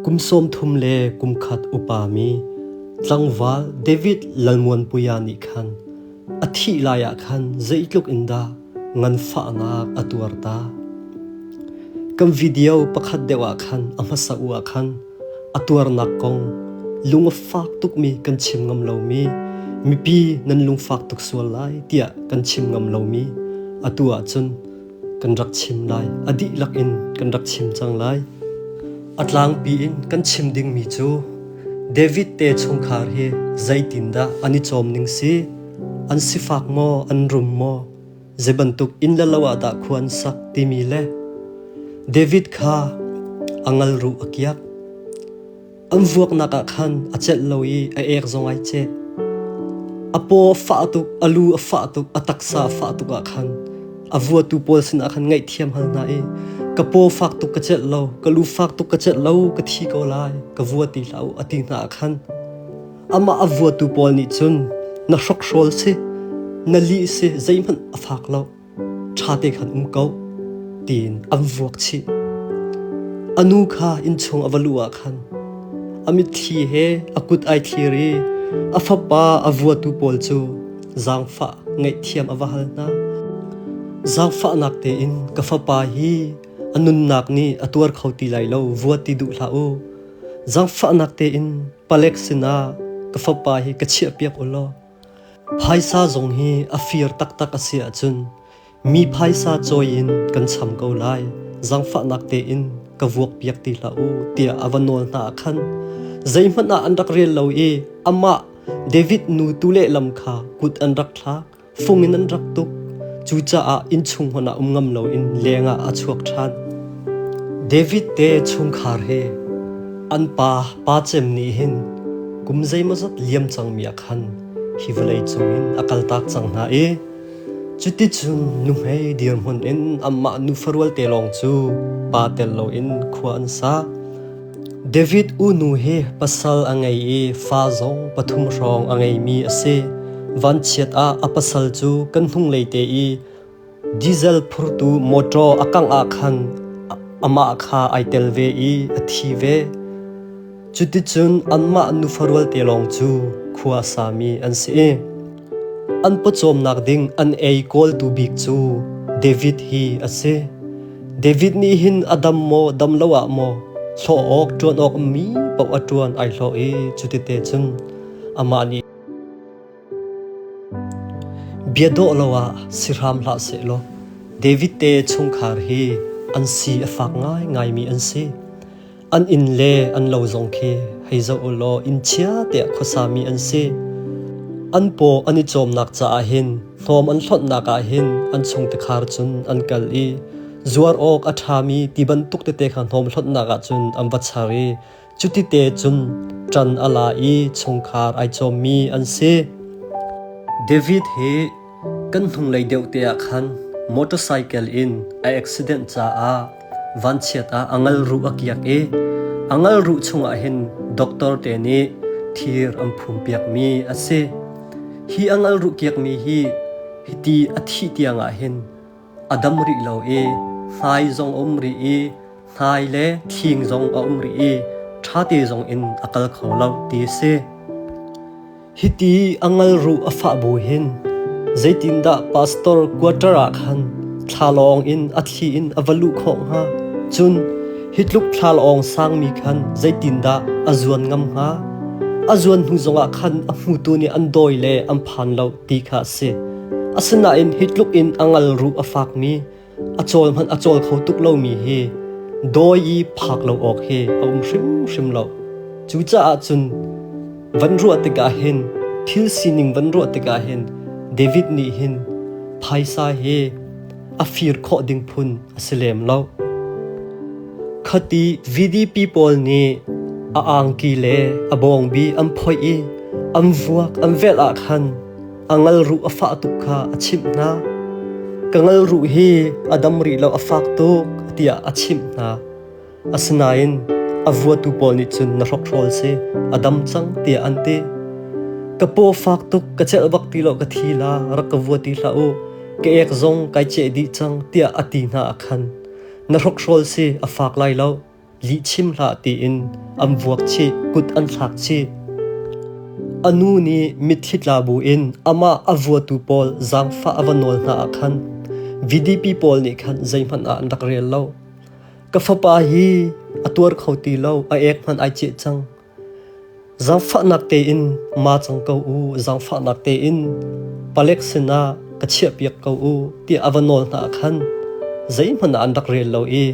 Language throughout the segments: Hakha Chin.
Kum sawmthum le kum khat upami tlangval David Lalmuanpuia nih khan a thih lai ah khan zeitluk in dah nganfahnak a tuar ta! Kan video pakhat deuh ah khan a hmasa u ah khan a tuarnak kong lung a fak tukmi kan chim ngam lomi mipi nan lungfak tuk sual lai tiah kan chim ngam lomi atu ahcun kan rak chim lai a dihlak in kan rak chim cang lai a tlangpi in kan chim dingmi cu David te chungkhar hi zeitindah an i cawm ning si an sifak maw an rum maw zei bantuk in le lo ah dah khuan sak timi le David kha angal ru a kiak An vuaknak ah khan a celh lo i a ek zong ai ceh. A paw a fah tuk, a lu a fah tuk, a taksa a fah tuk ah khan a vuatu pawl sinah khan ngaihthiam hal hna i ka paw fak tuk ka celh lo ka lu fak tuk ka celh lo ka thi ko lai ka vua ti hlah u a ti hna ah khan amah a vuatu pawl nih cun na hrokhrawl si na lih si zeihmanh a fak lo ṭhate khan um ko, tiin an vuak chih. A nu kha innchung a va luh ah khan a mitthli he a kut ai thlir i a fapa a vuatu pawl cu zaangfah ngaihthiam a va hal hna. Zaangfahnak tein ka fapa hi a nunnak nih a tuar kho ti lai lo vuat ti duh hlah u. Zaangfahnak tein palek sinah ka fapa hi ka chiahpiak u law Phaisa zong hi a fir taktak a si ahcun mi phaisa cawi in kan cham ko lai. Zangfahnak tein ka vuakpiak ti hlah u tiah a va nawl hna ah khan zeihmanh ah an rak rel lo i amah David nu tu lehlam kha kut an rak thlak, fung in an rak tuk. Cucaah innchung hmanh ah um ngam loin leng ah a chuak ṭhan. David te chungkhar he an pa pa cem nih hin kum zeimawzat liam cangmi ah khan hi vawlei cungin a kaltak cang hna i cuticun nuhmei dirhmun in amah nufa rualte lawng cu pa tel loin khua an sa. David unu hi pasal a ngei i fa zong pathum hrawng a ngeimi a si. Vanchiat ah a pasal cu kan hnunglei te i Diesel phurtu motor a kangh ah khan amah kha ai tel ve i a thi ve. Cuticun anmah nufa rualte lawng cu khua sami an si i an pawcawmnak ding an ei kawltu bik cu David hi a si. David nih hin a dam maw dam lo ah maw hlawh awk ṭuan awkmi paoh a ṭuan ai hlawh i cutite cun amah nih. Bia dawh lo ah si hram hlah seh law David te chungkhar hi an si a fak ngaingaimi an si. An inn le an lo zong khi hei zoh u law inn chia tiah khuasami an si. An paw an i cawmnak caah hin hnawm an hlonhnak ah hin an chung tikhar cun an kal i zuar awk a ṭhami ti bantuk tete kha hnawm hlonhnak ah cun an va char i Cutite cun ṭan a la i chungkhar ai cawmmi an si. David hi kan hnunglei deuh te ah khan motorcycle in a accident caah vanchiat ah a ngal ruh a kiak i a ngal ruh chungah hin doctor te nih thir an phumpiakmi a si. Hi a ngal ruh kiakmi hi hiti a thih tiangah hin a dam rih lo i hnai zong a um rih i hnai le thing zong a um rih i ṭhate zong in a kal kho lo ti a si. Hiti a ngal ruh a fah bu hin zeitindah pastor quarter ah khan thlalawng in a thli in a va luh khawh hnga? Cun hi tluk thlalawng sangmi khan zeitindah a zuan ngam hnga? A zuan hnu zongah khan a hmutu nih an dawi le an phan lo ti kha a si. Asinain hi tluk in a ngal ruh a fakmi, a cawl hmanh a cawl kho tuk lomi hi dawi i phak lo awk hi a um hrimhrim lo. Cucaah cun van ruah tikah hin thil sining van ruah tikah hin David nih hin phaisa hi a fir khawh ding phun a si lem lo. Khati VDP pawl nih a angki le a bawngbi an phoih i an vuak an velh ah khan a ngalruh a fah tuk kha a chimh hna. Ka ngalruh hi a dam rih lo a fak tuk tiah a chimh hna. Asinain a vuatu pawl nih cun na hrokhrawl si a dam cang tiah an ti. Ka paw fak tuk ka celh bak ti lo ka thi la rak ka vua ti hlah u ka ek zong kai ceh dih cang tiah a ti hna a khan. Na hrokhrawl si a fak lai lo. lih chim hlah tiin an vuak chih kut an thlak chih a nu nih mitthli tla bu in amah a vuatu pawl zaangfah a va nawl hna ah khan VDP pawl nih khan zeihmanh ah an rak rel lo ka fapa hi a tuar kho ti lo a ek hmanh ai ceh cang Zaangfahnak tein ma cang ko u, zaangfahnak tein palek sinah ka chiahpiak ko u, tiah a va nawl hna ah khan zeihmanh ah an rak rel lo i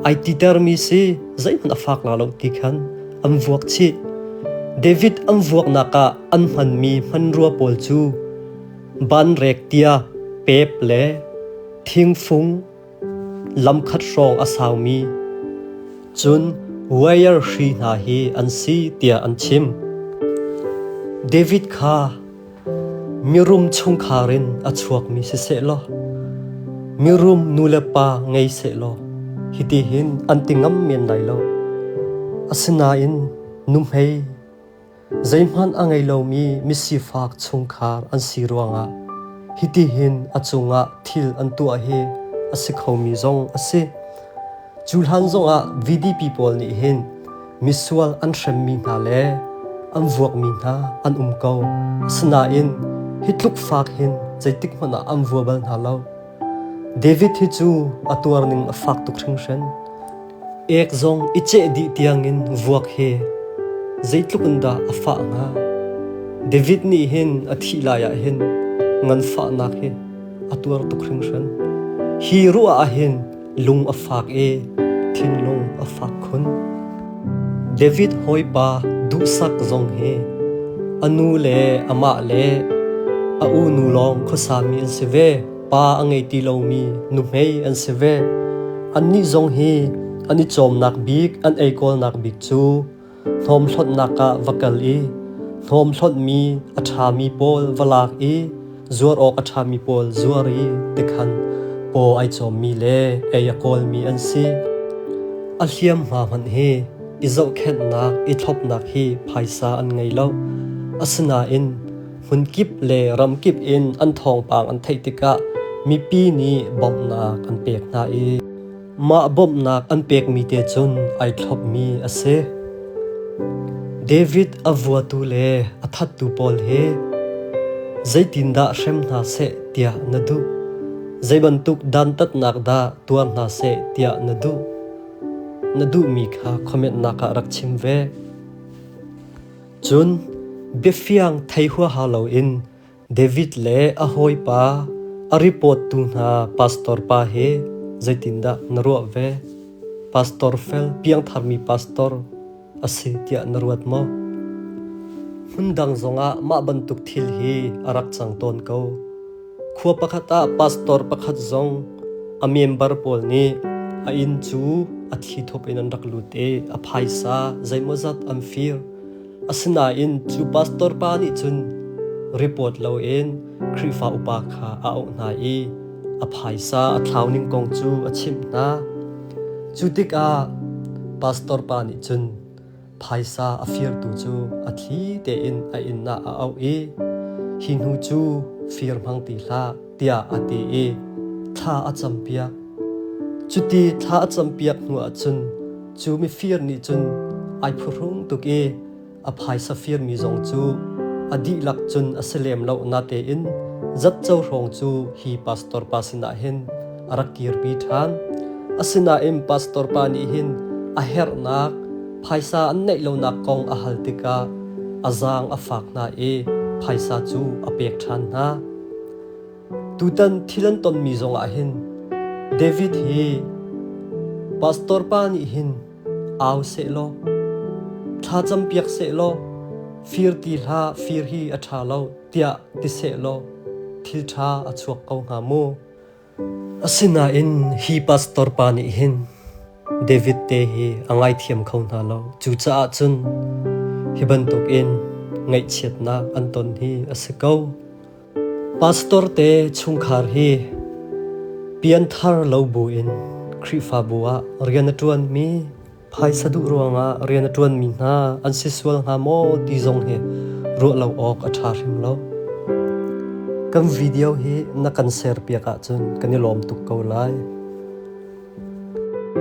ai titermi si zeihmanh a fak la lo ti khan an vuak chih. David an vuaknak ah an hmanmi hmanrua pawl cu banrek tiah pep le thingfung lamkhat hrawng a saumi cun wire hri hna hi an si tiah an chim. David kha mirum chungkhar in a chuakmi si seh law mirum nulepa ngei seh law hiti hin an ti ngam men lai lo asinain nuhmei Zeihmanh a ngei lomi misifak chungkhar an si ruangah hitihin a cungah thil an tuah hi a si khomi zong a si. Cu hlan zongah VDP pawl nih hin misual an hremmi hna le an vuakmi hna an um ko. Asinain hi tluk fak hin zeitik hmanh ah an vua bal hna lo. David hi cu a tuarning a fak tuk hringhran. Ek zong i ceh dih tiangin vuak he zeitluk in dah a fah hnga? David nih hin a thih lai ah hin nganfahnak hi a tuar tuk hringhran. Hi ruah ah hin Lung a fak i thinlung a fak khun. David hawipa duhsak zong hi a nu le amah le a unu lawng khuasami an si ve. Pa a ngei ti lomi nuhmei an si ve. Annih zong hi an i cawmnak bik, an eikawlnak bik cu Hnawm hlonhnak ah va kal i hnawm hlonhmi a ṭhami pawl va lak i zuar awk a ṭhami pawl zuar i tikhan paw ai cawmmi le ei a kawlmi an si. A hliamhma hmanh hi i zohkhenhnak i thlopnak hi phaisa an ngei lo. Asinain hmunkip le ramkip in an thawngpang an theih tikah mipi nih bawmhnak an pek hna i Mah bawmhnak an pekmi te cun ai thlopmi a si. David a vuatu le a thattu pawl he zeitindah hrem hna seh tiah na duh? Zei bantuk dantatnak dah tuar hna seh tiah na duh? Na duhmi kha khometnak ah rak chim ve. Cun biafiang thei huaha loin David le a hawipa, a ripawttu hna pastor pa he zeitindah na ruah ve? Pastor fel piangtharmi pastor a si tiah na ruat maw? Hmundang zongah mah bantuk thil hi a rak cang tawn ko. Khua pakhat ah pastor pakhat zong a member pawl nih a inn cu a thi thup in an rak lut i a phaisa zeimawzat an fir. Asinain cu pastor pa nih cun report loin Khrihfa upa kha a auh hna i a phaisa a thlau ning kong cu a chimh hna. Cu tikah pastor pa nih cun phaisa a firtu cu a thli tein a innak a auh i hi hnu cu fir hmang ti hlah. tiah a ti i thla a campiak. Cuti thla a campiak hnu ah cun cu mifir nih cun ai phuhrung tuk i a phaisa firmi zong cu a dihlak cun a si lem lo na tein zatco hrawng cu hi pastor pa sinah hin a rak kirpi ṭhan. Asinain pastor pa nih hin a herhnak phaisa an neih lonak kong a hal tikah a zaang a fak hna i phaisa cu a pek ṭhan hna. Tutan thil an tonmi zongah hin David hi pastor pa nih hin au seh law thlacam piak seh law fir ti hlah fir hi a ṭha lo tiah ti seh law thil ṭha a chuak ko hnga mu. Asinain hi pastor pa nih hin David te hi a ngaithiam kho hna lo. Cucaah cun hi bantukin ngaihchiatnak an ton hi a si ko. Pastor te chungkhar hi pianthar lo buin Khrihfabu ah rian a ṭuanmi Phaisa duh ruangah rian a ṭuanmi hna an si sual hnga maw ti zong hi ruah lo awk a ṭha hrim lo. Kan video hi na kan share piak ahcun kan i lawm tuk ko lai.